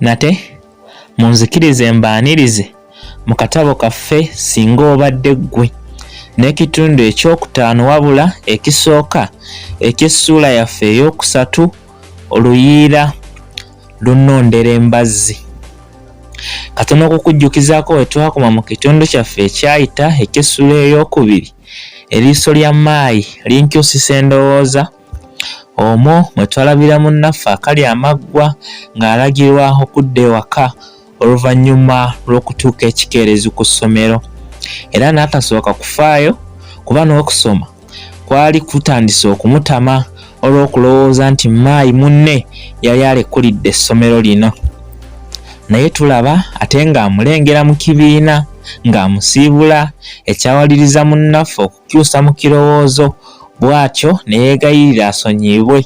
nate munzikirize mbaanirize mu katabo kaffe singa obadde ggwe n'ekitundu ekyokutaano wabula ekisooka eky'essuula yaffe ey'okusatu oluyiira lunondera embazzi katono okukujjukizako wetwakoma mu kitundu kyaffe ekyayita eky'essuula ey'okubiri Eriiso lya Maayi linkyusisa endowooza, omwo mwe twalabira munnaffe akalya amaggwa ng'alagirwa okudda ewaka oluvannyuma lw'okutuuka ekikeerezi ku ssomero era n'atasooka kufaayo kuba n'okusoma kwali kutandise okumutama olw'okulowooza nti maayi munne yali alekulidde essomero lino naye tulaba ate ng'amulengera mu kibiina ng'amusiibula ekyawaliriza munnaffe okukyusa mu kirowoozo bw'atyo ne yeegayirira asonyiyibwe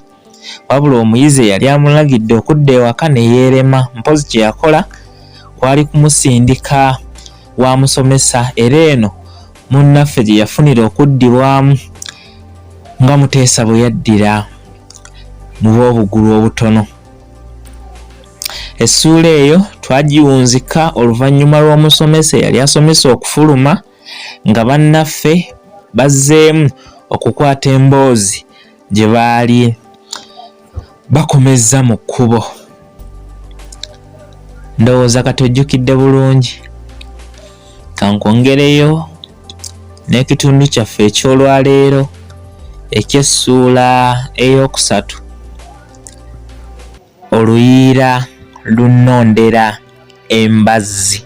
wabula omuyizi eyali amulagidde okudda ewaka ne yeerema mpozi kye yakola kwali kumusindika wa musomesa era eno munnaffe gye yafunira okuddibwamu nga muteesa bwe yaddira mu b'obugulu obutono essuula eyo twagiwunzika oluvannyuma lw'omusomesa eyali asomesa okufuluma nga bannaffe bazzeemu okukwata emboozi gye baali bakomezza mu kkubo ndowooza kati ojjukidde bulungi kankwongereyo n'ekitundu kyaffe eky'olwaleero eky'essuula ey'okusatu oluyiira lunnondera embazzi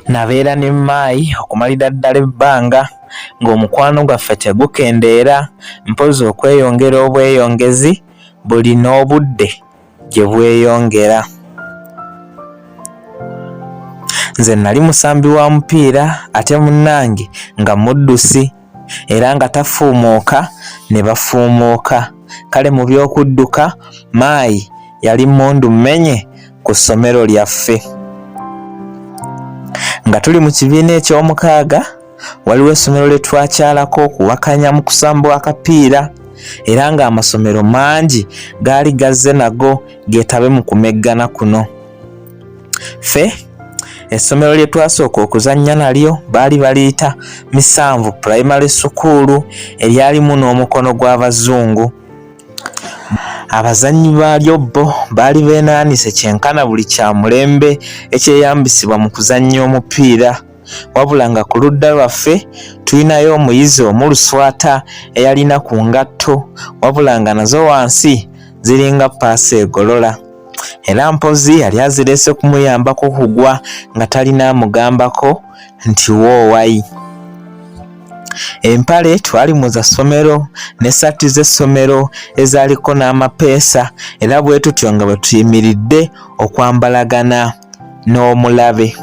nabeera ne maayi okumalira ddala ebbanga ng'omukwano gwaffe tegukendeera mpozi okweyongera obweyongezi buli n'obudde gye bweyongera nze nali musambi wa mupiira ate munnange nga muddusi era nga tafuumuuka ne bafuumuuka. Kale mu by'okudduka Maayi yali mmundu mmenye ku ssomero lyaffe. Nga tuli mu kibiina eky'omukaaga, waliwo essomero lye twakyalako okuwakanya mu kusamba akapiira era ng'amasomero mangi gaali gazze nago geetabe mu kumeggana kuno. ffe essomero lye twasooka okuzannya nalyo baali baliyita misanvu pulayimale sukuulu eryalimu n'omukono gw'abazungu abazannyi baalyo bo baali beenaanise kyenkana buli kya mulembe ekyeyambisibwa mu kuzannya omupiira wabula nga ku ludda lwaffe tulinayo omuyizi omuluswata eyalina ku ngatto wabula nga nazo wansi ziringa paasi egolola era mpozi yali azirese kumuyambako kugwa nga talina amugambako nti woowayi empale twali mu za ssomero n'essaati z'essomero ezaaliko n'amapeesa era bwe tutyo nga bwe tuyimiridde okwambalagana n'omulabe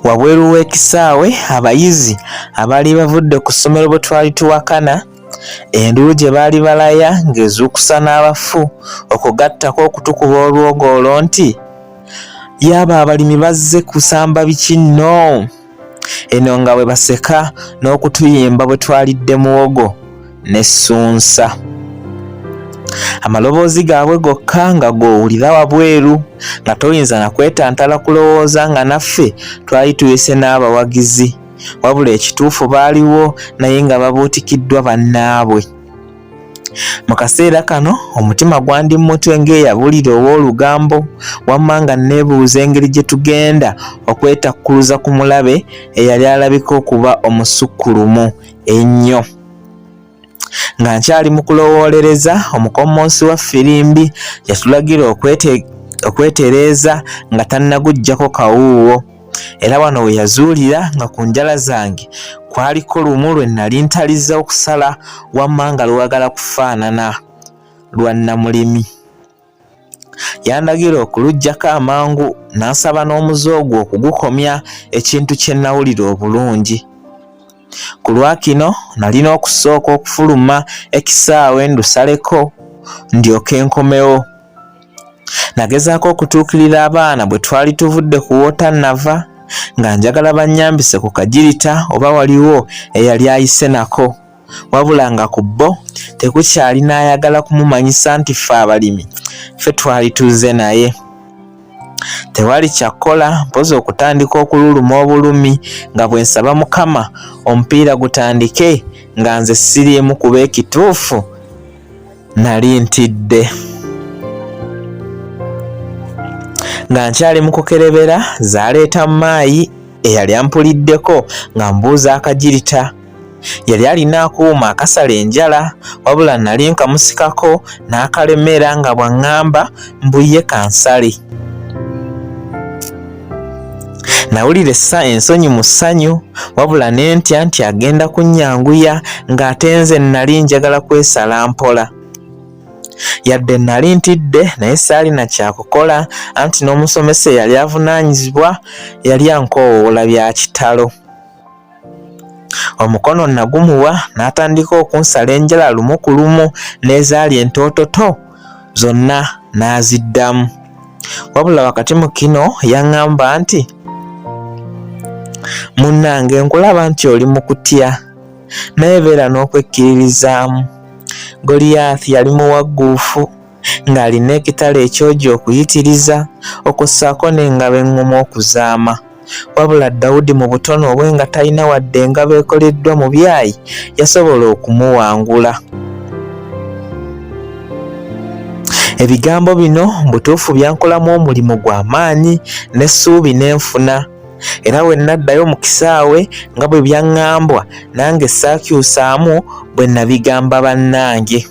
wabweru w'ekisaawe abayizi abaali bavudde ku ssomero bwe twali tuwakana Enduulu gye baali balaya ng'ezuukusa n'abafu okwo gattako okutukuba olwogoolo nti, Yaaba abalimi bazze kusamba biki nno! Eno nga bwe baseka n'okutuyimba bwe twalidde muwogo ne ssunsa. Amaloboozi gaabwe gokka nga g'owulira wabweru nga toyinza na kwetantala kulowooza nga naffe twali tuyise n'abawagizi. wabula ekituufu baaliwo naye nga babuutikiddwa bannaabwe mu kaseera kano omutima gwandi mutwe ng'eyabulira ow'olugambo wamma nga nneebuuza engeri gye tugenda okwetakkuluza ku mulabe eyali alabika okuba omusukkulumu ennyo Nga nkyali mu kulowoolereza, omukommonsi wa ffirimbi yatulagira okwetereeza nga tannaguggyako kawuuwo. Era wano we yazuulira nga ku njala zange kwaliko lumu lwe nnali ntaliza okusala wammanga lwagala kufaanana lwa nnamulimi. yandagira okuluggyako amangu n'ansaba n'omuze ogwo okugukomya ekintu kye nnawulira obulungi ku lwakino nalina okusooka okufuluma ekisaawe ndusaleko ndyoke nkomewo nagezaako okutuukirira abaana bwe twali tuvudde ku woota nava nga njagala bannyambise ku kagirita oba waliwo eyali ayise nako wabula nga ku bo tekukyali n'ayagala kumumanyisa nti ffe abalimi ffe twali tuzze naye tewali kyakkola mpozi okutandika okululuma obulumi nga bwe nsaba mukama omupiira gutandike nga nze siriimu kuba ekituufu nali ntidde nga nkyali mu kukerebera zaaleeta maayi eyali ampuliddeko nga mbuuza akagirita yali alina akuuma akasala enjala wabula nali nkamusikako n'akalemera nga bw'aŋŋamba mbu ye kansale nawulira essa ensonyi mu ssanyu wabula ne ntya nti agenda kunnyanguya ng'ate nze nnali njagala kwesala mpola yadde nnali ntidde naye saalina kyakukola anti n'omusomesa eyali avunaanyizibwa yali ankoowoola bya kitalo omukono nagumuwa n'atandika okunsala enjala lumu ku lumu n'ezaali entoototo zonna n'aziddamu wabula wakati mu kino yaŋŋamba nti munnange nkulaba nti oli mu kutya naye beera n'okwekkiririzaamu goliyaasi yali muwagguufu ng'alina ekitala ekyogi okuyitiriza, okwo ssaako n'engabo eŋŋumu okuzaama. Wabula Dawudi mu butono bwe nga talina wadde engabo ekoleddwa mu byayi, yasobola okumuwangula. Ebigambo bino mu butuufu byankolamu omulimu gwa maanyi n'essuubi ne nfuna. era bwe nnaddayo mu kisaawe nga bwe byaŋŋambwa nange saakyusaamu bwe nabigamba bannange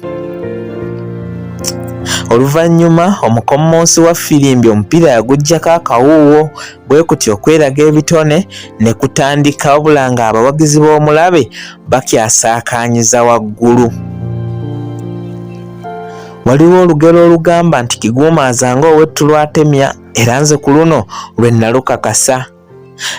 oluvannyuma omukommonsi wa firimbi omupiira yaguggyako akawuuwo bwe kuti okweraga ebitone ne kutandika wabula ng'abawagizi b'omulabe bakyasaakaanyiza waggulu waliwo olugero olugamba nti kiguumaaza ng'owettu lwatemya era nze ku luno lwe nnalukakasa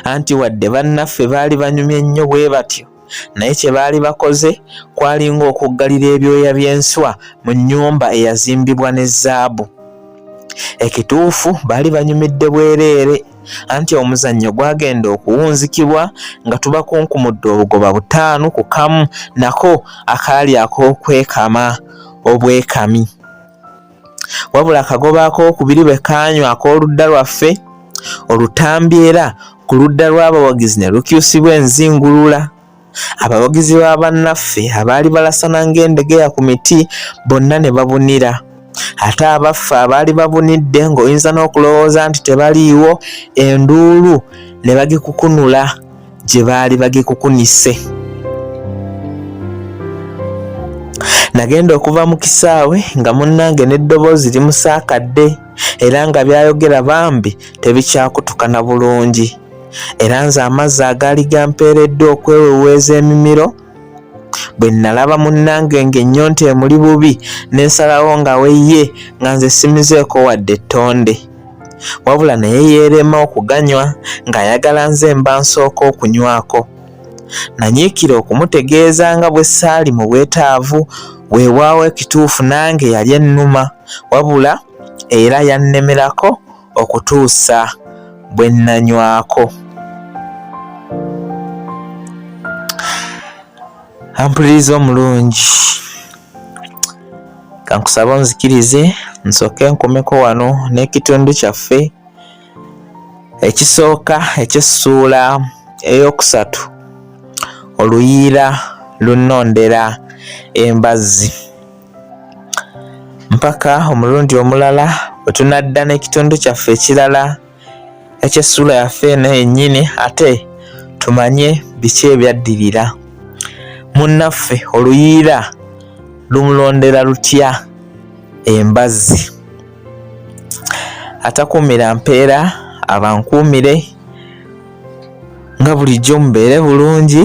anti wadde bannaffe baali banyumye nnyo bwe batyo naye kye baali bakoze kwali ng'okuggalira ebyoya by'enswa mu nnyumba eyazimbibwa ne zaabu ekituufu baali banyumidde bwereere anti omuzannyo gwagenda okuwunzikibwa nga tubakunkumudde obugoba butaano ku kamu nako akaali ak'okwekama obwekami wabula akagoba ak'okubiri bwe kaanywa ak'oludda lwaffe olutambi era ku ludda lw'abawagizi ne lukyusibwa enzingulula abawagizi ba bannaffe abaali balasana ng'endegeya ku miti bonna ne babunira ate abaffe abaali babunidde ng'oyinza n'okulowooza nti tebaliiwo enduulu ne bagikukunula gye baali bagikukunise nagenda okuva mu kisaawe nga munnange n'eddoboozi limusaakadde era nga byayogera bambi tebikyakutukana bulungi era nze amazzi agaali gampeereddwa okweweweeza emimiro bwe nalaba munnange ng'ennyonta emuli bubi ne nsalawo nga weye nga nze simizeeko wadde ettonde wabula naye yeerema okuganywa ng'ayagala nze mba nsooka okunywako. Nanyiikira okumutegeeza nga bwe ssaali mu bwetaavu, weewaawo ekituufu nange yali ennuma wabula era yannemerako okutuusa bwe nnanywako. Ampuliriza omulungi. kankusaba onzikirize nsooke nkomeko wano n'ekitundu kyaffe ekisooka eky'essuula ey'okusatu oluyiira lunnondera embazzi mpaka omulundi omulala bwe tunadda n'ekitundu kyaffe ekirala eky'essuula yaffe eno yennyini ate tumanye biki ebyaddirira munnaffe oluyiira lumulondera lutya embazzi atakuumira mpeera abankuumire nga bulijjo mubeere bulungi